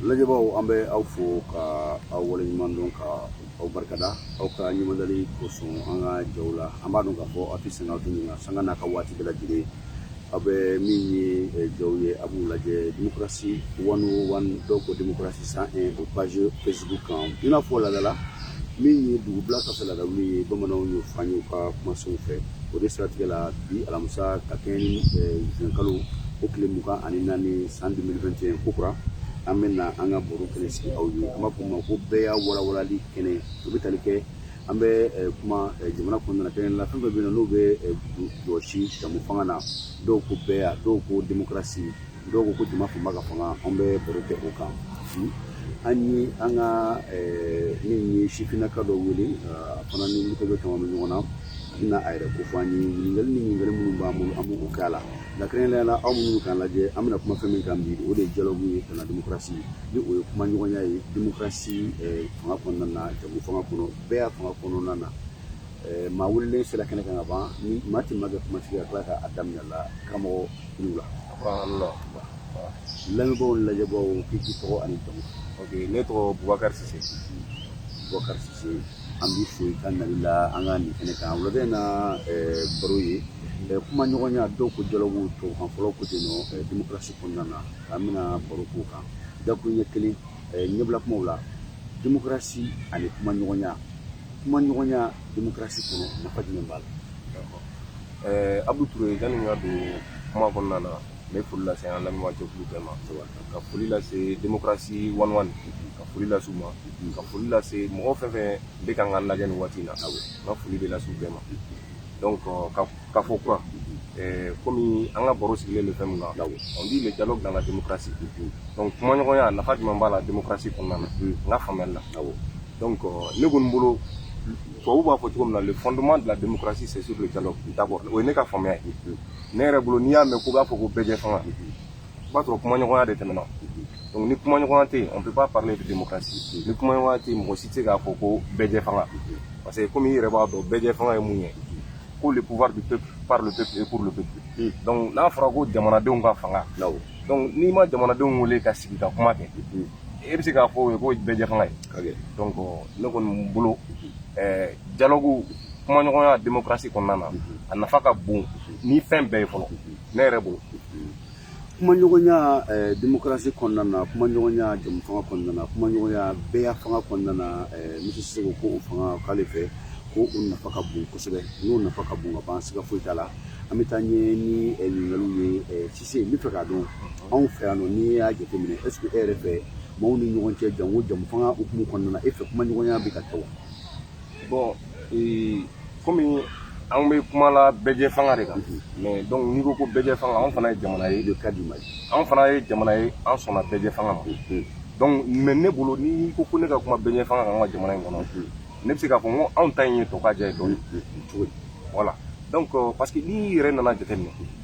lajɛbaaw an bɛ aw fo ka aw waleɲuman dɔn ka aw barikada aw ka ɲumandali kosɔn an ka jaw la an b'a dɔn k'a fɔ aw tɛ sɛgɛn aw tɛ ɲina sanga n'a ka waati bɛɛ lajɛlen aw bɛ min ye eh, jaw ye a b'u lajɛ demokarasi one o one dɔw ko demokarasi cent un o page facebook kan i n'a fɔ laada la min ye dugu bila ka fisa laada wuli ye bamananw y'o fɔ an ye u ka kumasenw fɛ o de siratigɛ la bi alamisa ka kɛɲɛ ni zuwɛnkalo o tile mugan ani naani san deux mille vingt et un kokura an bɛ na an ka baro kɛnɛ sigi aw ye an b'a fɔ ma ko bɛɛya walawalali kɛnɛ o bɛ tali kɛ an bɛ kuma jamana kun nana kɛnɛ la fɛn bɛ bɛ yen n'o bɛ jɔsi jɛmufanga na dɔw ko bɛɛya dɔw ko demokarasi dɔw ko ko jama fanba ka fanga an bɛ baro kɛ o kan hmm? an ye an ka eh, min ye sifinnaka dɔ wele a fana ni moto bɛ kama bɛ ɲɔgɔn na na a yɛrɛ kofɔ an ye ɲininkali ni ɲininkali minnu b'an bolo an b'o k'a la nka kɛrɛnkɛrɛnnenya la aw minnu b'an lajɛ an bɛna kuma fɛn min kan bi o de ye dialogue ye ka na demokarasi ni o ye kumaɲɔgɔnya ye demokarasi eh, fanga kɔnɔna na jɛmufanga kɔnɔ bɛɛya fanga kɔnɔna na eh, maa welelen sera kɛnɛ kan ka ban ni maa tɛ maa kɛ kumatigi ka tila k'a da minɛ a la karamɔgɔ la lamɛnbaaw lajɛbaaw k'i k'i tɔgɔ ani jamu ok ne tɔgɔ bubakari sise bubakari sise an b'i fo i ka nali la an ka nin kɛnɛ kan wulada in na baro ye kumaɲɔgɔnya dɔw ko dialogue tubabukan fɔlaw ko ten nɔ demokarasi kɔnɔna na an bɛna baro k'o kan dakun ɲɛ kelen ɲɛbila kumaw la demokarasi ani kumaɲɔgɔnya kumaɲɔgɔnya demokarasi kɔnɔ nafa jumɛn b'a la Ɛɛ Abu Ture yani n ka don kuma kɔnɔna na, n bɛ foli lase an lamɛnbaa jɛkulu bɛɛ ma, ka foli lase democratie one o one ka foli lase u ma, ka foli lase mɔgɔ fɛn o fɛn bɛ kan ka an lajɛ nin waati in na, awɔ, n ka foli bɛ lase u bɛɛ ma donc k'aw fo kura ye comme an ka baro sigilen bɛ fɛn min kan, awɔ, on dit le dialogue dans la democratie donc kumaɲɔgɔnya nafa jumɛn b'a la democratie kɔnɔna na, unhun, n ka faamuyali la, awɔ, donc ne kɔni bolo tubabu b'a fɔ cogo min na le fondement de la démocratie c'est sur le dialogue d'accord o ye ne ka faamuya ye ne yɛrɛ bolo n'i y'a mɛn ko b'a fɔ ko bɛɛjɛfanga i b'a sɔrɔ kumaɲɔgɔnya de tɛmɛna donc ni kumaɲɔgɔnya tɛ yen on peut pas parler de démocratie ni kumaɲɔgɔnya tɛ yen mɔgɔ si tɛ se k'a fɔ ko bɛɛjɛfanga parce que komi i yɛrɛ b'a dɔn bɛɛjɛfanga ye mun ye ko le pouvoir du peuple par le peuple et pour le peuple hmm. donc n'a fɔra ko jamanadenw ka fanga donc n'i ma jamanadenw wele ka sigi ka kuma kɛ hmm. e bɛ se k'a fɔ o ye ko bɛɛjɛfanga ye donc ne kɔni bolo ɛɛ dialogue kumaɲɔgɔnya démocratie kɔnɔna na a nafa ka bon ni fɛn bɛɛ ye fɔlɔ ne yɛrɛ bolo kumaɲɔgɔnya eh, demokarasi kɔnɔna na kumaɲɔgɔnya jɛmufanga kɔnɔna na kumaɲɔgɔnya bɛɛya fanga kɔnɔna na eh, misiye seko k'o fɔ k'ale fɛ ko o nafa ka bon kosɛbɛ n'o nafa ka bon ka ban siga foyi t'a la an bɛ taa ɲɛ ni eh, ɲininkaliw ye Sise n bɛ fɛ k'a dɔn anw fɛ yan nɔ n'i y'a jateminɛ est ce que e yɛrɛ fɛ maaw ni ɲɔgɔn cɛ janko jɛmu fanga hukumu kɔnɔna na e fɛ kuma ɲɔgɔnya bɛ ka kɛ wa? Bon ee, komi anw bɛ kuma la bɛɛjɛ fanga de kan mais donc n'i ko ko bɛɛjɛ fanga anw fana ye jamana ye de ka di ma anw fana ye jamana ye an sɔnna bɛɛjɛ fanga ma donc mais ne bolo n'i ko ko ne ka kuma bɛɛjɛ fanga kan an ka jamana in kɔnɔ ne bɛ se k'a fɔ n ko anw ta in ye tɔkajɛ ye dɔɔni voilà donc parce que n'i yɛrɛ nana jateminɛ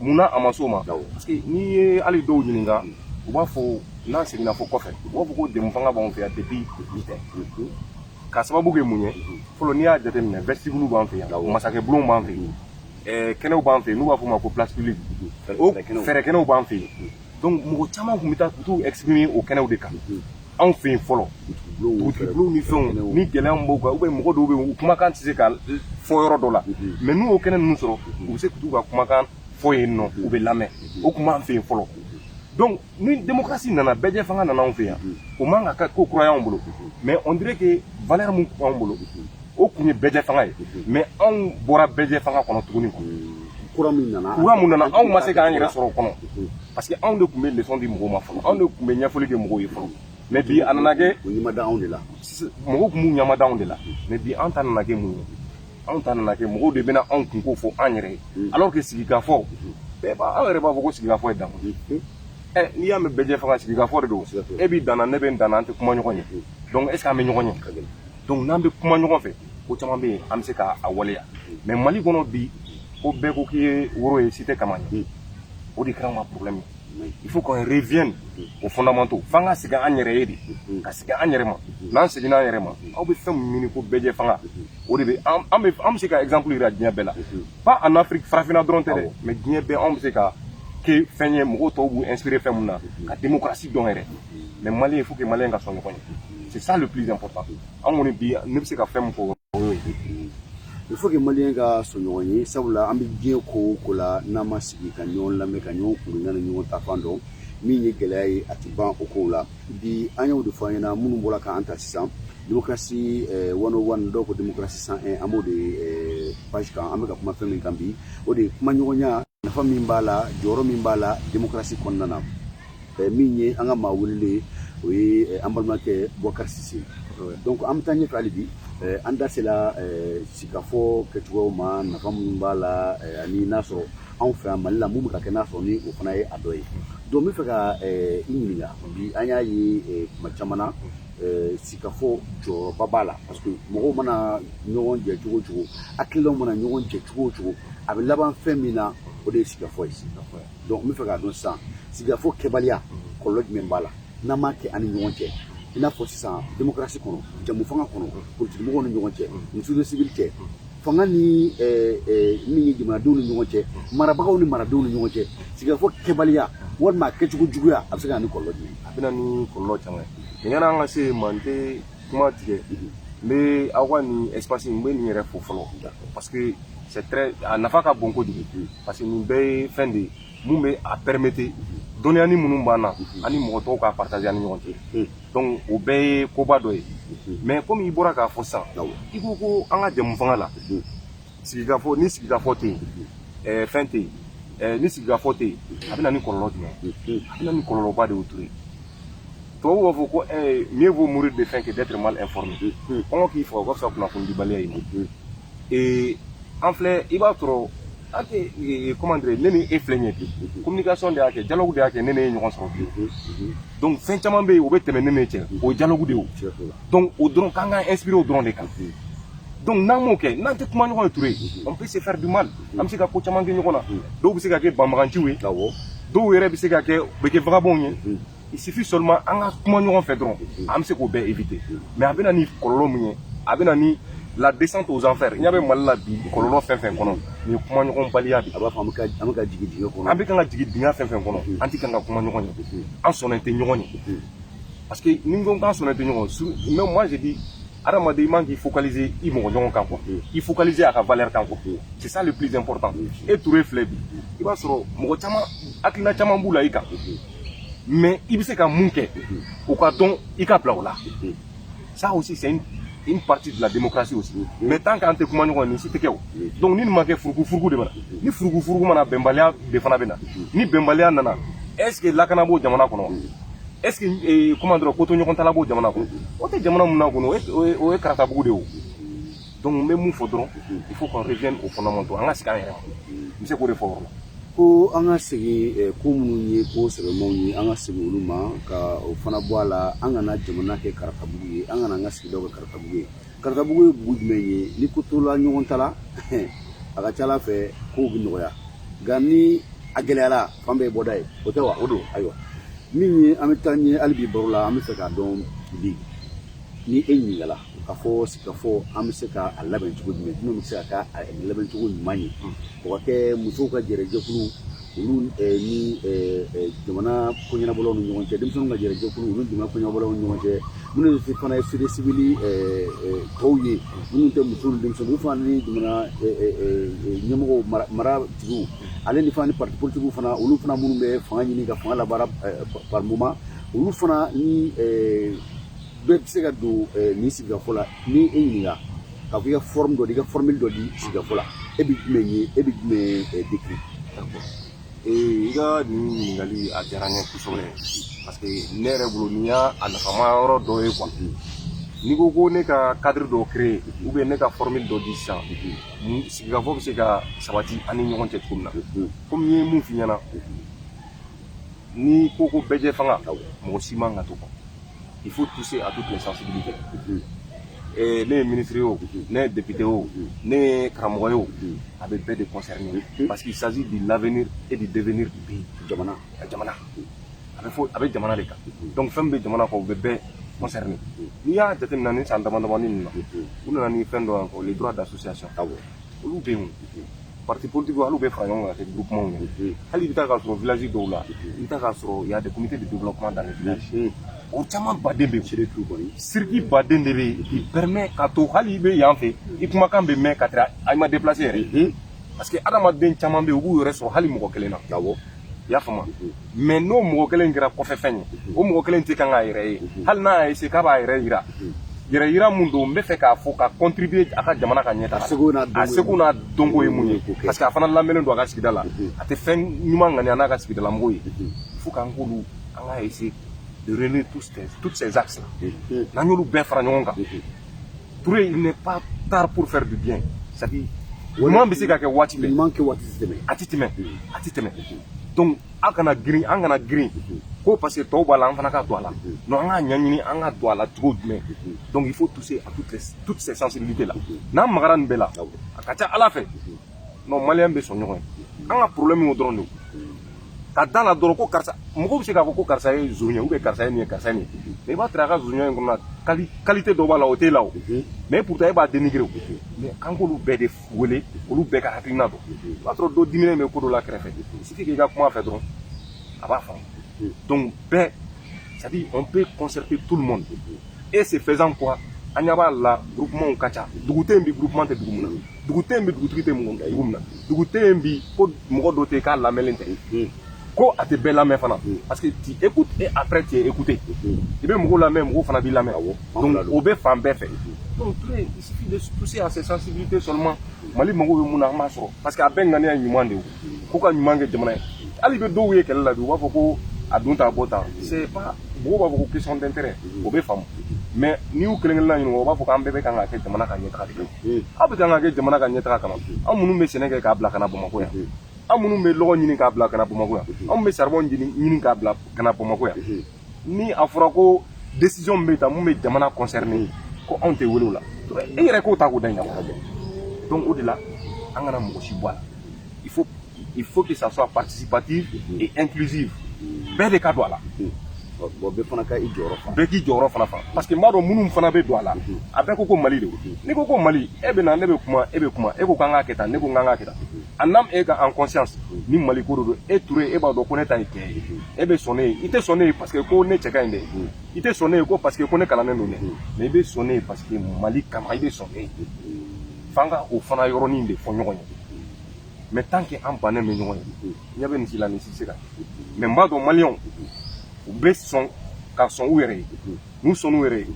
mun na a ma so ma parce que n'i ye hali dɔw ɲininka u b'a fɔ n'an seginna fo kɔfɛ u b'a fɔ ko jɛmu fanga b'an fɛ yan depuis k'a sababu kɛ mun ye fɔlɔ n'i y'a jateminɛ vestibule b'an fɛ yan masakɛ bulon b'an fɛ yen kɛnɛw b'an fɛ yen n'u b'a fɔ ma ko place publique fɛrɛkɛnɛw b'an fɛ yen donc mɔgɔ caman tun bɛ taa ka t'u exprimer o kɛnɛw de kan anw fɛ yen fɔlɔ dugutigibulonw ni fɛnw ni gɛlɛya b'u kan u bɛ mɔgɔ dɔw bɛ yen u kumakan tɛ se ka fɔ yɔrɔ dɔ la mais n'u y'o kɛnɛ ninnu sɔrɔ u bɛ se k'u ka kumakan fɔ yen nɔ u bɛ lamɛn o tun b'an fɛ yen fɔlɔ donc ni démocratie nana bɛɛjɛ fanga nana anw fɛ yan o man ka kɛ ko kura y'anw bolo mais on dirait que valeur min b'anw bolo o tun ye bɛɛjɛ fanga ye mais anw bɔra bɛɛjɛ fanga kɔnɔ tuguni kura min nana kura min nana anw ma se k'an yɛrɛ sɔrɔ o kɔnɔ parce que anw de tun bɛ leçon di mɔgɔw ma fɔlɔ anw de tun bɛ ɲɛfɔli kɛ mɔgɔw ye fɔlɔ mais bi a nana kɛ o ɲɛmada anw de la mɔgɔw tun b'u ɲɛmada anw de la mais bi an ta nana kɛ mun ye anw ta nana kɛ mɔgɔw de bɛna anw kunko fɔ an yɛrɛ ye mm. alors que sigikafɔ mm-hmm. bɛɛ b'a aw yɛrɛ b'a fɔ ko sigikafɔ ye damu ye mm-hmm. eh, n'i y'a mɛn bɛɛjɛ fanga sigikafɔ de don e b'i danna ne bɛ n danna an tɛ kuma ɲɔgɔn ye mm-hmm. donc est ce que an bɛ ɲɔgɔn ye donc n'an bɛ kuma ɲɔgɔn fɛ ko caman bɛ yen an bɛ se k'a waleya mais Mali kɔnɔ bi ko bɛɛ ko k'i ye woro ye si tɛ kaman ye o de kɛra ma problème ye il faut qu'on revienne aux fondamentaux f'an ka segin an yɛrɛ ye de ka segin an yɛrɛ ma n'an seginna an yɛrɛ ma aw bɛ fɛn min ɲini ko bɛɛjɛ fanga o de bɛ an bɛ an bɛ se ka exemple yira diɲɛ bɛɛ la pas en Afrique farafinna dɔrɔn tɛ dɛ mais diɲɛ bɛɛ anw bɛ se ka kɛ fɛn ye mɔgɔw tɔw b'u inspirer fɛn min na ka démocratie dɔn yɛrɛ mais maliyɛn faut que maliyɛn ka sɔn ɲɔgɔn ye c'est ça le plus important an kɔni bi ne bɛ se ka fɛn min fɔ o y'o ye il faut que maliyɛn ka sɔn ɲɔgɔn ye sabula an bɛ diɲɛ ko o ko la n'an ma sigi ka ɲɔgɔn lamɛn ka ɲɔgɔn kunna ni ɲɔgɔn ta fan dɔn min ye gɛlɛya ye a tɛ ban o kow la bi an y'o de fɔ an ɲɛna minnu bɔra k'an ta sisan démocratie eh, 101 dɔw ko démocratie 101 an b'o de eh, page kan an bɛ ka kuma fɛn min kan bi o de ye kumaɲɔgɔnya nafa min b'a la jɔyɔrɔ min b'a la démocratie kɔnɔna na min ye an ka maa wele o ye an balimakɛ Bɔkar Sise donc an bɛ taa ɲɛfɛ hali bi an da sela sigikafɔ kɛcogo ma nafa minnu b'a la ani n'a sɔrɔ anw fɛ yan Mali la minnu bɛ ka kɛ n'a sɔrɔ ni o fana ye a dɔ ye donc n bɛ fɛ ka i ɲininka bi an y'a ye kuma caman na sigikafɔ jɔyɔrɔba b'a la parce que mɔgɔw mana ɲɔgɔn jɛ cogo cogo hakililaw mana ɲɔgɔn jɛ cogo cogo a bɛ laban fɛn min na o de ye sigikafɔ ye sigikafɔ ye donc n bɛ fɛ k'a dɔn sisan sigikafɔ kɛbaliya kɔlɔlɔ jumɛn b'a la n'an m'a kɛ an ni ɲɔgɔn cɛ i n'a fɔ sisan demokarasi kɔnɔ jɛmu fanga kɔnɔ politikimɔgɔw ni ɲɔgɔn cɛ muso ni sibili cɛ fanga ni min ye jamanadenw ni ɲɔgɔn cɛ marabagaw ni maradenw ni ɲɔgɔn cɛ sigikafɔ kɛbaliya walima a kɛcogo juguya a bɛ se ka na ni kɔlɔlɔ jumɛn ye a bɛ na ni kɔlɔlɔ caman ye nin yann'an ka se manden kuma tigɛ n bɛ aw ka nin espace n bɛ nin yɛrɛ fo fɔlɔ parce que c'est très a nafa ka bon kojugu parce que nin bɛɛ ye fɛn de ye min bɛ a permettre dɔnniyani minnu b'an na an ni mɔgɔ tɔw k'a partager an ni ɲɔgɔn cɛ donc o bɛɛ ye koba dɔ ye mais komi i bɔra k'a fɔ sisan i ko ko an ka jɛmu fanga la sigikafɔ ni sigikafɔ tɛ yen ɛɛ fɛn tɛ yen ɛɛ ni sigikafɔ tɛ yen a bɛ na ni kɔlɔlɔ jumɛn a bɛ na ni kɔlɔlɔba de ye Toure tubabu b'a fɔ ko ɛɛ mieux vaut mourir de faim que d'être mal informé kɔngɔ k'i faga o ka fisa kunnafonidibaliya ye ee an filɛ i b'a sɔrɔ an tɛ comment dire ne ni e filɛ nin ye bi communication de y'a kɛ dialogue de y'a kɛ ne n'e ye ɲɔgɔn sɔrɔ bi donc fɛn caman bɛ yen o bɛ tɛmɛ ne n'e cɛ o ye dialogue de ye o donc o dɔrɔn k'an k'an inspiré o dɔrɔn de kan donc n'an m'o kɛ n'an tɛ kuma ɲɔgɔn ye Toure on peut se faire du mal an bɛ se ka ko caman kɛ ɲɔgɔn na dɔw bɛ se ka kɛ banbaganciw ye dɔw yɛrɛ bɛ se ka kɛ u bɛ kɛ vagabonds ye il suffit seulement an ka kuma ɲɔgɔn fɛ dɔrɔn an bɛ se k'o bɛɛ éviter mais a bɛ na ni kɔlɔlɔ min ye a bɛ na ni la descente aux enfers n'an bɛ mali la bi kɔlɔlɔ fɛn fɛn kɔnɔ nin ye kuma ɲɔgɔn baliya de a b'a fɔ an bɛ ka an bɛ ka jigin dingɛ kɔnɔ an bɛ kan ka jigin dingɛ fɛn fɛn kɔnɔ an tɛ kan ka kuma ɲɔgɔn ye an sɔnnen tɛ ɲɔgɔn ye parce que ni n ko k'an sɔnnen tɛ ɲɔgɔn su mais moi je dis adamaden i man k'i focaliser i mɔgɔ ɲɔgɔn kan quoi i focaliser a ka valeur kan quoi c'est ça le plus important e Toure filɛ bi i b'a sɔrɔ mɔgɔ caman hakilina caman b'u la i kan mais i bɛ se ka mun kɛ o k'a dɔn i k'a bila o la ça aussi c'est une une partie de la démocratie aussi mais tant qu'an tɛ kuma ɲɔgɔn nin si tɛ kɛ o donc ni nin ma kɛ furuku furuku de bɛ na ni furuku furuku nana bɛnbaliya de fana bɛ na ni bɛnbaliya nana est ce que lakana b'o jamana kɔnɔ est ce que comment dire kotoɲɔgɔntala b'o jamana kɔnɔ o tɛ jamana min na kɔnɔ o ye karatabugu de ye o donc n bɛ mun fɔ dɔrɔn il faut qu'on revienne au fondamental an ka segin an yɛrɛ ma n bɛ se k'o de fɔ yɔrɔ la ko an ka segin eh, ko minnu ye ko sɛbɛnmaw ye an ka segin olu ma ka o fana bɔ a la an kana jamana kɛ karatabugu ye an kana an ka sigidaw kɛ karatabugu ye karatabugu ye bugu jumɛn ye ni ko tola ɲɔgɔn ta la a ka ca ala fɛ kow bɛ nɔgɔya nka ni a gɛlɛyara fan bɛɛ ye bɔda ye o tɛ wa o don ayiwa min ye an bɛ taa ɲɛ hali bi baro la an bɛ fɛ k'a dɔn bi ni e ɲininkala ka fɔ ka fɔ an bɛ se ka a labɛn cogo jumɛn minnu bɛ se ka kɛ a labɛn cogo ɲuman ye o ka kɛ musow ka gɛrɛjɛkulu olu ni jamana koɲɛnabɔlaw ni ɲɔgɔn cɛ denmisɛnninw ka gɛrɛjɛkulu olu ni jamana koɲɛnabɔlaw ni ɲɔgɔn cɛ minnu ye fana ye société civile tɔw ye minnu tɛ musow ni denmisɛnninw olu fana ni jamana ɲɛmɔgɔw maratigiw ale ni fana ni parti politique fana olu fana minnu bɛ fanga ɲini ka fanga labaara par moment olu fana nin bɛɛ bɛ se ka don nin sigikafɔ la ni e ɲininka ka fɔ i ka forme dɔ di i ka formule dɔ di sigikafɔ la e bɛ jumɛn ye e bɛ jumɛn décrire i ka nin ɲininkali a diyara n ye kosɛbɛ parce que ne yɛrɛ bolo nin y'a a nafama yɔrɔ dɔ ye quoi n'i ko ko ne ka cadre dɔ créer ou bien ne ka formule dɔ di sisan ni sigikafɔ bɛ se ka sabati an ni ɲɔgɔn cɛ cogo min na komi n ye mun f'i ɲɛna n'i ko ko bɛɛjɛfanga mɔgɔ si man ka to il faut toucher à toutes les sensibilités eh, ne ye ministre ye o ne ye député o ne ye karamɔgɔ ye o a bɛ bɛɛ de concerner parce qu'il s'agit de l'avenir et du devenir du pays jamana jamana a bɛ fɔ a bɛ jamana de kan donc fɛn bɛ jamana kɔ o bɛ bɛɛ concerner n'i y'a jateminɛ nin san dama damani ninnu na u nana ni fɛn dɔ ko les droits d'association olu bɛ yen parti politique hali u bɛ fara ɲɔgɔn kan kɛ groupement ye hali i bɛ taa k'a sɔrɔ village dɔw la i bɛ taa k'a sɔrɔ y a des comités de développement dans les villages o camanba de bɛ yen circuit ba de bɛ yen qui permet ka to hali i bɛ yan fɛ i kumakan bɛ mɛn ka tɛmɛ a ma déplacer yɛrɛ parce que adamaden caman bɛ yen u b'u yɛrɛ sɔrɔ hali mɔgɔ kelen na i y'a faamu mais n'o mɔgɔ kelen kɛra kɔfɛfɛn ye o mɔgɔ kelen tɛ kan k'a yɛrɛ ye hali n'a y'a essayer k'a b'a yɛrɛ yira yɛrɛ yira mun don n bɛ fɛ k'a fɔ ka contribuer a ka jamana ka ɲɛtaga a seko n'a dɔnko ye mun ye parce que a fana lamɛnnen don a ka sigida la a tɛ fɛn ɲuman ŋaniya n'a ka sigidalamɔgɔw ye il faut k'an k'olu an ka essayer de réunir tous ces, toutes ces axes là n'an y'olu bɛɛ fara ɲɔgɔn kan Touré, il n'est pas tard pour faire du bien. C'est à dire, ɲuman bɛ se ka kɛ waati bɛɛ ɲuman kɛ waati tɛ tɛmɛ a tɛ tɛmɛ a tɛ tɛmɛ donc an kana girin an kana girin ko parce que tɔw b'a la an fana ka don a la non an k'a ɲɛɲini an ka don a la cogo jumɛn donc il faut toucher à toutes les toutes ces sensibilités là n'an magara nin bɛɛ la a ka ca ala fɛ non malien bɛ sɔn ɲɔgɔn ye an ka problème y'o dɔrɔn de ye ka da la dɔrɔn ko karisa mɔgɔ bɛ se k'a fɔ ko karisa ye zon ye ou bien karisa ye nin ye karisa ye nin ye mais i b'a sɔrɔ a ka zonya in kɔnɔna quali qualité dɔ b'a la o t'e la o mais pourtant e b'a dénigrer o mais k'an k'olu bɛɛ de wele olu bɛɛ ka hakilina don i b'a sɔrɔ dɔ diminen bɛ ko dɔ la kɛrɛfɛ sigi k'i ka kuma a fɛ dɔrɔn a b'a faamu donc bɛɛ c'est à dire on peut concerter tout le monde et c'est faisant quoi an ɲɛ b'a la groupements ka ca dugu tɛ yen bi groupement tɛ dugu mun na dugu tɛ yen bi dugutigi tɛ mun kɛ i mun na dugu tɛ yen bi ko mɔgɔ dɔ tɛ k'a lamɛnlen tɛ hmm. ko a tɛ bɛɛ lamɛn fana hmm. parce que tu écoutes et après tu es écouté hmm. i bɛ mɔgɔw lamɛn mɔgɔw fana b'i lamɛn awɔ donc o bɛ fan bɛɛ fɛ donc tout est il suffit de toucher à ces sensibilités seulement mali mago bɛ mun na an b'a sɔrɔ parce que a bɛɛ ŋaniya ye ɲuman de ye ko ka ɲuman kɛ jamana ye hali i bɛ dɔw ye kɛlɛ la bi u b'a fɔ ko a don tan a bɔ tan c'est pas mɔgɔw b'a fɔ ko question d'intérêt o bɛ faamu mais n'i y'u kelen kelenna ɲininka u b'a fɔ k'an bɛɛ bɛ kan k'a kɛ jamana ka ɲɛtaga de ye aw bɛ kan ka kɛ jamana ka ɲɛtaga kama anw minnu bɛ sɛnɛ kɛ k'a bila ka na bamakɔ yan anw minnu bɛ lɔgɔ ɲini k'a bila ka na bamakɔ yan anw bɛ saribɔn ɲini k'a bila ka na bamakɔ yan ni a fɔra ko décision bɛ ta min bɛ jamana concerner ye ko anw tɛ wele o la e yɛrɛ k'o ta k'o da ɲɛ donc o de la an kana mɔgɔ si bɔ a la il faut il faut que ça soit participatif mm. et inclusif bɛɛ de ka don a la mm. bon bɛɛ fana ka i jɔyɔrɔ fa bɛɛ k'i jɔyɔrɔ fana fa mm. parce que n b'a dɔn minnu fana bɛ don a la a bɛɛ ko ko mali de don n'i ko ko mali e bɛ na ne bɛ kuma e bɛ kuma e ko k'an k'a kɛ tan ne ko n k'an k'a kɛ tan en âme et en conscience ni mali ko de don e ture e b'a dɔn ko ne ta ye tiɲɛ ye e bɛ sɔn ne ye i tɛ sɔn ne ye parce que ko ne cɛ ka ɲi dɛ i tɛ sɔn ne ye ko parce que ko ne kalannen don dɛ mais i bɛ sɔn ne ye parce que mali kama i bɛ sɔn ne ye F'an ka o fana yɔrɔnin de fɔ ɲɔgɔn ye mais tant que an bannen bɛ ɲɔgɔn ye ɲɛ bɛ nin si la nin si tɛ se ka mais n b'a dɔn maliyɛnw u bɛ sɔn ka sɔn u yɛrɛ ye n'u sɔn u yɛrɛ ye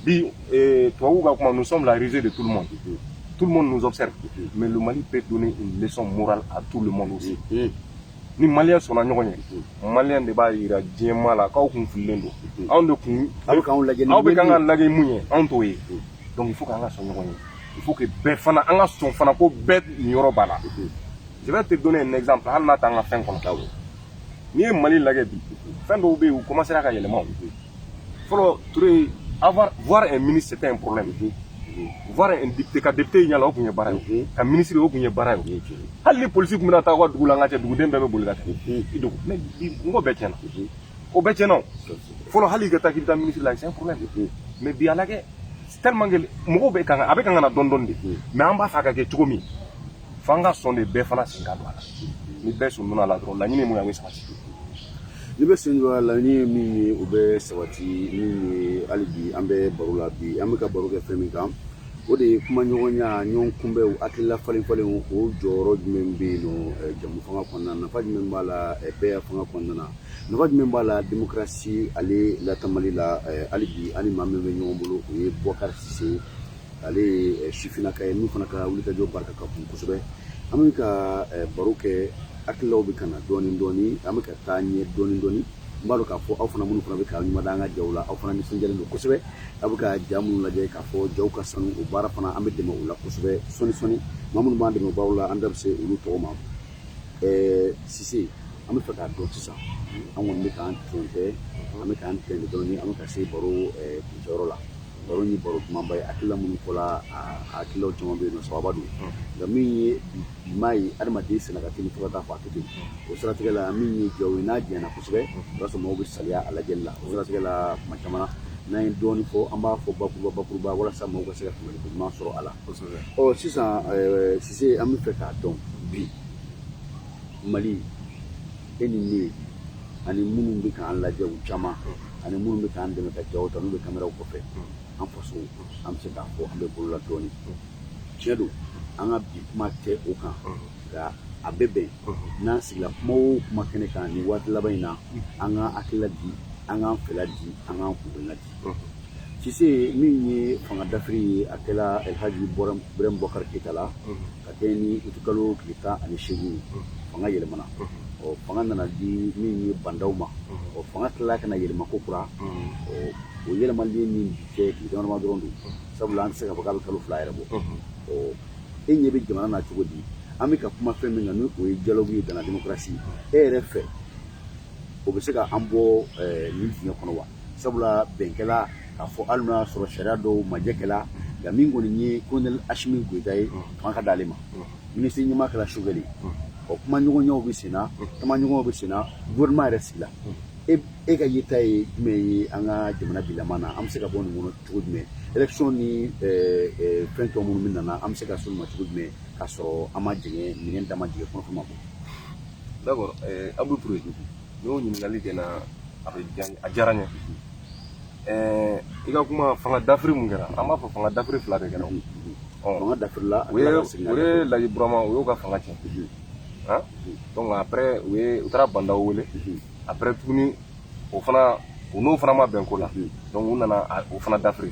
bi eh, tubabuw ka kuma nous sommes la risée de tout le monde tout le monde nous observe mais le Mali peut donner une leçon morale à tout le monde aussi ni maliyɛn sɔnna ɲɔgɔn ye maliyɛn de b'a jira diɲɛmaa la k'aw kun fililen don anw de kun aw bɛ k'an lajɛ ni aw bɛ k'an ka lajɛ min ye anw t'o ye donc il faut k'an ka sɔn ɲɔgɔn ye il faut que bɛɛ fana an ka sɔn fana ko bɛɛ niyɔrɔ b'a la je vais te donner un exemple hali n'a t'an ka fɛn kɔnɔ n'i ye mali lajɛ bi fɛn dɔw bɛ yen u commencera ka yɛlɛma fɔlɔ ture avoir voir un ministre c'était un problème voir un député ka député ɲɛ la o tun ye baara ye ka ministre o tun ye baara ye hali ni polisi tun bɛna taa u ka dugu la an ka cɛ duguden bɛɛ bɛ boli ka taa i dogo mais bi o ko bɛɛ tiɲɛna o bɛɛ cɛnna fɔlɔ hali ka taa k'i bɛ taa minisiri la c'est un problème mais bi a lajɛ tellement que mɔgɔw bɛ kan a bɛ kan ka na dɔɔni dɔɔni de mais an b'a fɛ a ka kɛ cogo min fo an ka sɔn de bɛɛ fana sen ka don a la ni bɛɛ sen donna a la dɔrɔn laɲini min ye a bɛ sabati ni bɛɛ sen don a la laɲini ye min ye o bɛ sabati min ye hali bi an bɛ baro la bi an bɛ ka baro kɛ fɛn min kan o de ye kumaɲɔgɔnya ɲɔgɔn kunbɛnw hakilila falen falenw o jɔyɔrɔ jumɛn bɛ yen nɔ jɛmufanga kɔnɔna na nafa jumɛn b'a la bɛɛ fanga kɔnɔna na nafa jumɛn b'a la demokarasi ale lataamali la eh, hali bi an ni maa min bɛ ɲɔgɔn bolo o ye bɔkari sise ale ye eh, sifinaka ye min fana ka wulikajɔ barika ka bon kosɛbɛ an bɛ ka eh, baro kɛ hakililaw bɛ ka na dɔɔnin dɔɔnin an bɛ ka taa ɲɛ dɔɔnin dɔɔnin n b'a dɔn k'a fɔ aw fana minnu fana bɛ ka ɲuman an ka jaw la aw fana nisɔndiyalen don kosɛbɛ aw bɛ ka ja minnu lajɛ k'a fɔ jaw ka sanu o baara fana an bɛ dɛmɛ o la kosɛbɛ sɔɔni sɔɔni maa minnu b'an dɛmɛbaaw la an da bɛ se olu tɔgɔ ma sise an b'a fɛ k'a dɔn sisan an kɔni bɛ k'an ton kɛ an bɛ k'an tɛn dɔɔnin an bɛ ka se baro kuncɛyɔrɔ la baro nin baro kumaba ye hakilila minnu fɔla a hakililaw caman bɛ yen nɔ sababa don nka min ye bi maa ye adamaden sɛgɛn ka teli fo ka taa fɔ a tɛ ten o siratigɛ la min ye jaw ye n'a janyana kosɛbɛ o y'a sɔrɔ maaw bɛ saliya a lajɛli la o siratigɛ la kuma caman n'an ye dɔɔnin fɔ an b'a fɔ bakuruba bakuruba walasa maaw ka se ka faamuyali ko ɲuman sɔrɔ a la ɔ sisan sise an b'a fɛ k'a dɔn bi mali e ni ne ani minnu bɛ k'an lajɛ u caman ani minnu bɛ k'an dɛmɛ ka jaw ta n'u bɛ kameraw kɔfɛ an faso an bɛ se k'a fɔ an bɛ bolola dɔɔnin tiɲɛ don an ka bi kuma tɛ o kan nka a bɛ bɛn n'an sigila kuma o kuma kɛnɛ kan nin waati laban in na an k'an hakilila di an k'an fɛla di an k'an kunna di Sise min ye fanga dafiri ye a kɛra alihaji bubakari keyita la ka kɛɲɛ ni uti kalo tile tan ani segin fanga yɛlɛmana ɔ fanga nana di min ye ba ndaw ma o fanga tilala ka yɛlɛma kokura o yɛlɛma min cɛ tile dama dɔrɔn don sabula an tɛ se k'a fɔ a bɛ kalo fila yɛrɛ bɔ ɔ e ɲɛ bɛ jamana na cogo di an bɛ ka kuma fɛn min na n' o ye dialogue ye donna denmusosi e yɛrɛ fɛ o bɛ se ka an bɔ nin dingɛ kɔnɔ wa sabula bɛn kɛla k'a fɔ hali n'a y'a sɔrɔ sariya dɔw majɛkɛla nka min kɔni ye kolonɛli asimi goyita ye fanga ka d'ale ma minisiri ɲɛmaa kɛra sogɛli ɔ kumaɲɔgɔnyaw bɛ senna tamaɲɔgɔnw bɛ senna gouvernement yɛrɛ sigila e e ka yeta ye jumɛn ye an ka jamana bilama na an bɛ se ka bɔ nin kɔnɔ cogo jumɛn élection ni fɛn tɔ minnu bɛna na an bɛ se ka s'olu ma cogo jumɛn k'a sɔrɔ an ma dingɛ min an donna dingɛ kɔnɔ ma bɔ d'accord awɔ Ture N'o ɲininkali kɛra a bɛ a diyara n ye i ka kuma fanga dafiri min kɛra an b'a fɔ fanga dafiri fila de kɛra voilà u ye laji burama u y'o ka fanga cɛn donc après u taara ba ndaw wele après tuguni o fana u n'o fana ma bɛn ko la donc u nana o fana dafiri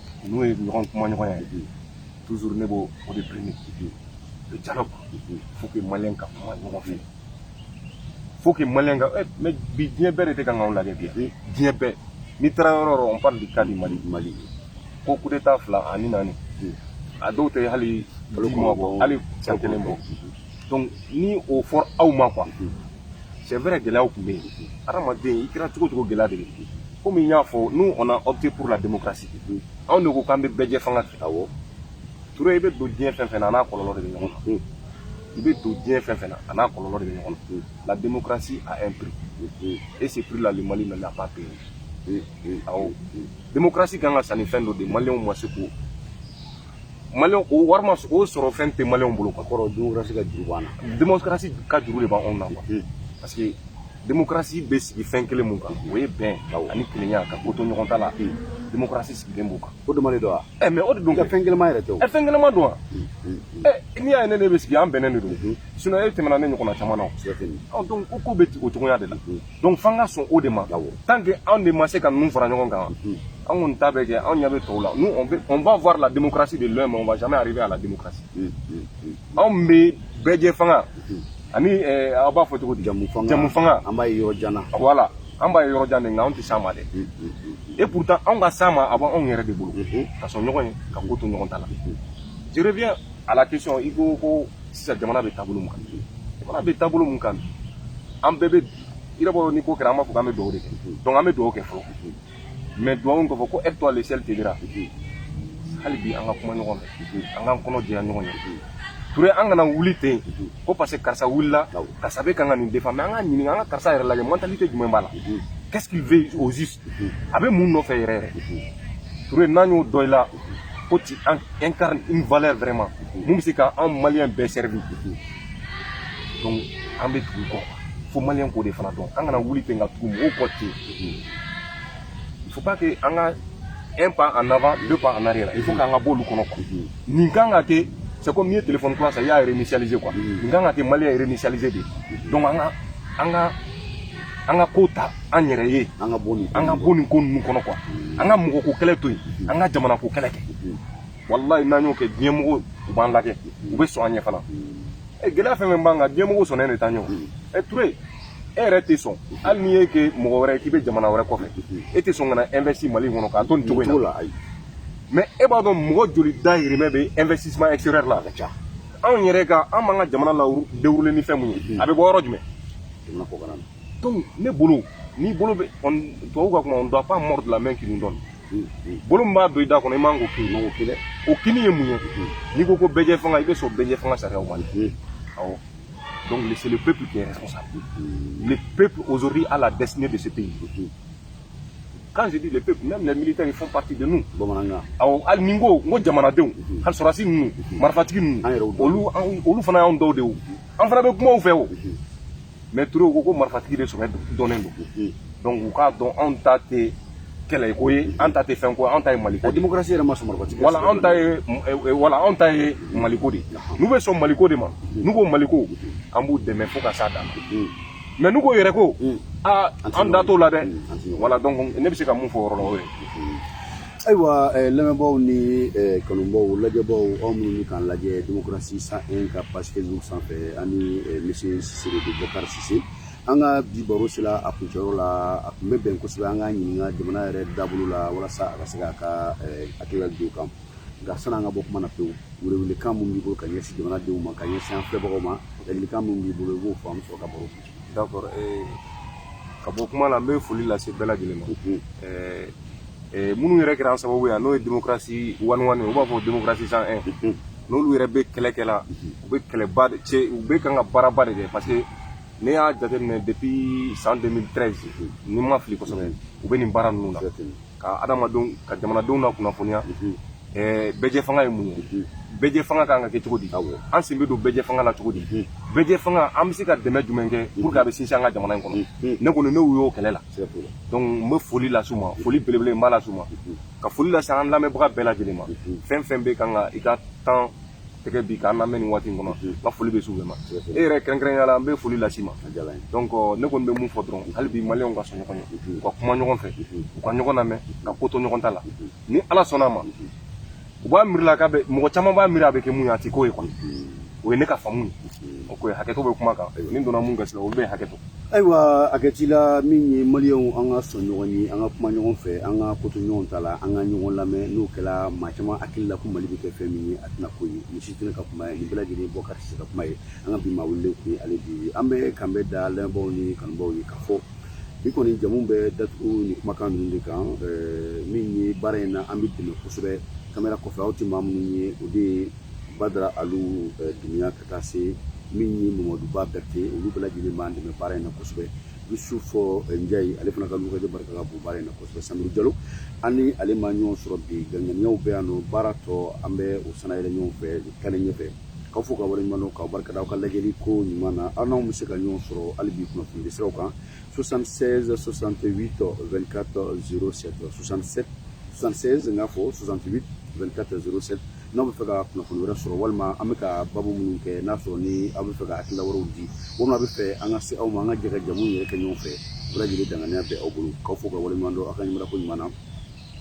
n'o ye ɲɔgɔn kumaɲɔgɔnya ye toujours ne b'o o de premier kipe le dialogue faut que maliyɛn ka kuma ɲɔgɔn fɛ faut que maliyɛn ka eh, mais bi diɲɛ bɛɛ de tɛ ka anw lajɛ bi eh, diɲɛ bɛɛ n'i taara yɔrɔ o yɔrɔ on parle du cas du mali mali ko coup d'état fila en une année a dɔw tɛ hali balo kuma bɔ hali san kelen bɔ donc ni o fɔra aw ma quoi c'est vrai gɛlɛyaw tun bɛ yen adamaden i kɛra cogo o cogo gɛlɛya de bɛ yen komi n y'a fɔ nous on a opté pour la démocratie anw de ko k'an bɛ bɛɛjɛfanga fɛ awɔ ture i bɛ don diɲɛ fɛn o fɛn na a n'a kɔlɔlɔ de bɛ ɲɔgɔn na i bɛ don diɲɛ fɛn o fɛn na a n'a kɔlɔlɔ de bɛ ɲɔgɔn na la démocratie a un prix et ce prix là le Mali ne l'a pas payé awɔ démocratie ka kan ka san ni fɛn dɔ de maliyɛnw ma se k'o mali o wari ma o sɔrɔ fɛn tɛ mali bolo ka kɔrɔ demokarasi ka juru b'an na demokarasi ka juru de b'anw na quoi parce que demokarasi bɛ sigi fɛn kelen min kan o ye bɛn ani kelenya ka ko to ɲɔgɔn ta la demokarasi sigilen b'o kan o de mali don wa ɛ mɛ o de don ka fɛn kelen ma yɛrɛ tɛ o ɛ fɛn kelen ma don wa ɛ n'i y'a ye ne ne bɛ sigi an bɛnnen de don sinɔn e tɛmɛna ne ɲɔgɔnna caman na o donc ko ko bɛ o cogoya de la donc f'an ka sɔn o de ma tant que anw de ma se ka ninnu fara ɲɔgɔn kan an kɔni ta bɛ kɛ anw ɲɛ bɛ tɔw la nous on, on va voir la démocratie de loin mais on va jamais arriver à la démocratie anw bɛ bɛɛjɛ fanga ani eh, aw b'a fɔ cogo di jɛmufanga jɛmufanga an b'a ye yɔrɔ jan na voilà an b'a ye yɔrɔ jan de nka anw tɛ s'a ma dɛ et pourtant anw ka s'a ma a b'anw yɛrɛ de bolo ka sɔn ɲɔgɔn ye ka ko to ɲɔgɔn ta la je reviens à la question i ko ko sisan jamana bɛ taabolo mun kan jamana bɛ taabolo mun kan an bɛɛ bɛ i n'a fɔ ni ko kɛra an b'a fɔ k'an bɛ dugawu de kɛ donc an bɛ dugawu kɛ fɔlɔ mais dugawu in kɔfɛ ko aide-toi le ciel t'aidera hali bi an ka kuma ɲɔgɔn fɛ an k'an kɔnɔ jɛya ɲɔgɔn ye ture an kana wuli ten ko parce que karisa wulila karisa bɛ kan ka nin défendre mais an ka ɲininka an ka karisa yɛrɛ lajɛ mentalité jumɛn b'a la qu'est ce qu'il veut au juste a bɛ mun nɔfɛ yɛrɛ yɛrɛ ture n'an y'o dɔn i la ko tu incarnes une valeur vraiment mun bɛ se ka an maliyɛn bɛɛ servir donc an bɛ tugu kɔ fo maliyɛn k'o de fana dɔn an kana wuli ten ka tugu mɔgɔw kɔ ten il faut pas que an ka un pas en avant deux pas en arrière il faut k'an ka b'olu kɔnɔ quoi nin kan ka kɛ c'est comme n'i ye téléphone kura san i y'a réinitialiser quoi nin kan ka kɛ maliyɛn réinitialiser de donc an ka an ka an ka ko ta an yɛrɛ ye an ka bɔ nin an ka bɔ nin ko ninnu kɔnɔ quoi an ka mɔgɔ ko kɛlɛ to yen an ka jamana ko kɛlɛ kɛ walayi n'an y'o kɛ diɲɛmɔgɔ u b'an lajɛ u bɛ sɔn an ɲɛ fana ɛ gɛlɛya fɛn o fɛn b'an kan diɲɛmɔgɔ sɔnnen de t'an ɲɛ ɛ ture e yɛrɛ tɛ sɔn hali n'i ye kɛ mɔgɔ wɛrɛ k'i bɛ jamana wɛrɛ kɔfɛ e tɛ sɔn ka na investi mali kɔnɔ k'a to nin cogo in na mais e b'a dɔn mɔgɔ joli dayirimɛ bɛ investissement extérieur la a ka ca anw yɛrɛ ka an b'an ka jamana ladilan ni fɛn mun ye a bɛ bɔ yɔrɔ jumɛn jamana kɔkan na donc ne bolo n'i bolo bɛ tubabu ka kuma on doit pas mordre la main qui nous donne bolo min b'a don i da kɔnɔ i man k'o kin o kinni o kinni ye mun ye n'i ko ko bɛɛjɛ fanga i bɛ sɔn bɛɛjɛ fanga sariyaw ma awɔ donc c'est le peuple qui est responsable le peuple aujourd'hui a la destinée de ce pays quand je dis le peuple même les militaires ils font partie de nous bamanankan awɔ hali ni n ko n ko jamanadenw hali sɔrɔdasi ninnu marifatigi ninnu olu olu fana y'anw dɔw de ye o an fana bɛ kuma u fɛ o mais ture ko ko marifatigi de sɔrɔ dɔnnen don donc u k'a dɔn anw ta tɛ kɛlɛ ko ye an ta tɛ fɛn ko an ta ye maliko démocratie yɛrɛ ma sɔn marifatigi voilà anw ta ye voilà anw ta ye maliko de n'u bɛ sɔn maliko de ma n'u ko maliko an b'u dɛmɛ fo ka s'a dan mais n'u ko yɛrɛ ko aa an da t'o la dɛ voilà donc ne bɛ se ka mun fɔ o yɔrɔ la o ye ayiwa lamɛnbaaw ni kanubaaw lajɛbaaw aw minnu bɛ k'an lajɛ démocratie cent un ka page facebook sanfɛ ani misi siri bɛkarisi an ka bi baro sera a kuncɛyɔrɔ la a tun bɛ bɛn kosɛbɛ an ka ɲininka jamana yɛrɛ taabolo la walasa a ka se a ka hakilila dɔn a kan nka sani an ka bɔ kuma na pewu welekan minnu b'i bolo ka ɲɛsin jamanadenw ma ka ɲɛsin an filɛbagaw ma ladilikan minnu b'i bolo i b'o fɔ an sɔrɔ ka baro ka bɔ kuma la n bɛ foli lase bɛɛ lajɛlen ma minnu yɛrɛ kɛra sababu ye n'o ye démocratie one o one u b'a fɔ démocratie cent un n'olu yɛrɛ bɛ kɛlɛ kɛ la u bɛ kɛlɛba cɛ u bɛ kan ka baaraba de kɛ parce que ne y'a jateminɛ depuis san 2013 ni n ma fili kosɛbɛ u bɛ nin baara ninnu la ka adamadenw ka jamanadenw na kunnafoniya bɛɛjɛ fanga ye mun ye bɛɛjɛ fanga kan ka kɛ cogo di an sen bɛ don bɛɛjɛ fanga la cogo di bɛɛjɛ fanga an bɛ se ka dɛmɛ jumɛn kɛ pour que a bɛ sinsin an ka jamana in kɔnɔ ne kɔni ne y'u y'o kɛlɛ la donc n bɛ foli las'u ma foli belebele n b'a las'u ma ka foli lase an lamɛnbaga bɛɛ lajɛlen ma fɛn fɛn bɛ kan ka i ka temps tɛgɛ bi k'an lamɛn nin waati in kɔnɔ n ka foli bɛ s'u bɛɛ ma e yɛrɛ kɛrɛnkɛrɛnnenya la n bɛ foli las'i ma donc ne kɔni bɛ mun fɔ dɔrɔn hali bi maliyɛnw ka sɔn ɲɔgɔn ye u ka kuma ɲɔgɔn fɛ u ka ɲɔgɔn lamɛn ka ko to ɲɔgɔn ta la ni ala sɔnna a ma u b'a miiri la k'a bɛ mɔgɔ caman b'a miiri a bɛ kɛ min ye a tɛ k'o ye kɔni o ye ne ka faamu ye o ko ye hakɛto bɛ kuma kan ni n donna min gasi la olu bɛ hakɛto ayiwa a kɛ ci la min ye maliyɛnw an ka sɔn ɲɔgɔn ye an ka kuma ɲɔgɔn fɛ an ka ko to ɲɔgɔn ta la an ka ɲɔgɔn lamɛn n'o kɛra maa caman hakili la ko mali bɛ kɛ fɛn min ye a tɛna k'o ye nin si tɛna ka kuma ye nin bɛɛ lajɛlen bɔ ka se ka kuma ye an ka bi maa welelen tun ye ale de ye an bɛ kan bɛ da lamɛnbaaw ni kanubaw ye k'a fɔ bi kɔni jamu bɛ datugu ni kumakan ninnu de kan min ye baara in na an bɛ dɛmɛ kosɛbɛ kamera kɔfɛ aw tɛ maa minnu ye o de ye badara alu dunya kan ka taa se min ni mɔmɔduba bɛrite olu bɛɛ lajɛlen b'an dɛmɛ baara in na kosɛbɛ yusufu eh, njayi ale fana ka lukajɛ barika ka bon baara in na kosɛbɛ samuru jalo an ni ale ma ɲɔgɔn sɔrɔ bi ganganiyaw bɛ yan nɔ baara tɔ an bɛ o sana yɛlɛ ɲɔgɔn fɛ kɛnɛ ɲɛfɛ k'aw fo ka waleɲuman dɔn k'aw barika da aw ka lajɛli ko ɲuman na aw n'anw bɛ se ka ɲɔgɔn sɔrɔ hali bi kunnafoni de siraw kan 76 68 24 07 67 76 n k'a fɔ 68 24 07 n'aw bɛ fɛ ka kunnafoni wɛrɛ sɔrɔ walima an bɛ ka baabu minnu kɛ n'a sɔrɔ ni aw bɛ fɛ ka hakilila wɛrɛw di walima aw bɛ fɛ an ka se aw ma an ka jɛ ka jamu yɛrɛ kɛ ɲɔgɔn fɛ bɛɛ lajɛlen danganiya bɛ aw bolo k'aw fo ka waleɲuman dɔn aw ka ɲɛmɔgɔ ɲuman na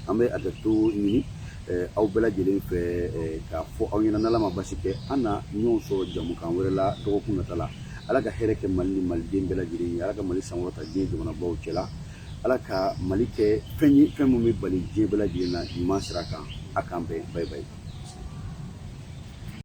an bɛ hakɛto ɲini aw bɛɛ lajɛlen fɛ k'a fɔ aw ɲɛna n'ala ma basi kɛ an na ɲɔgɔn sɔrɔ jamukan wɛrɛ la dɔgɔkun nata la ala ka hɛrɛ kɛ mali ni maliden bɛɛ lajɛlen ye ala ka mali sankɔrɔta diɲɛ jamanabaw cɛla ala ka mali kɛ fɛn ye fɛn min bɛ bali diɲɛ bɛɛ lajɛlen na ɲuman sira kan a k'an bɛn bayi bayi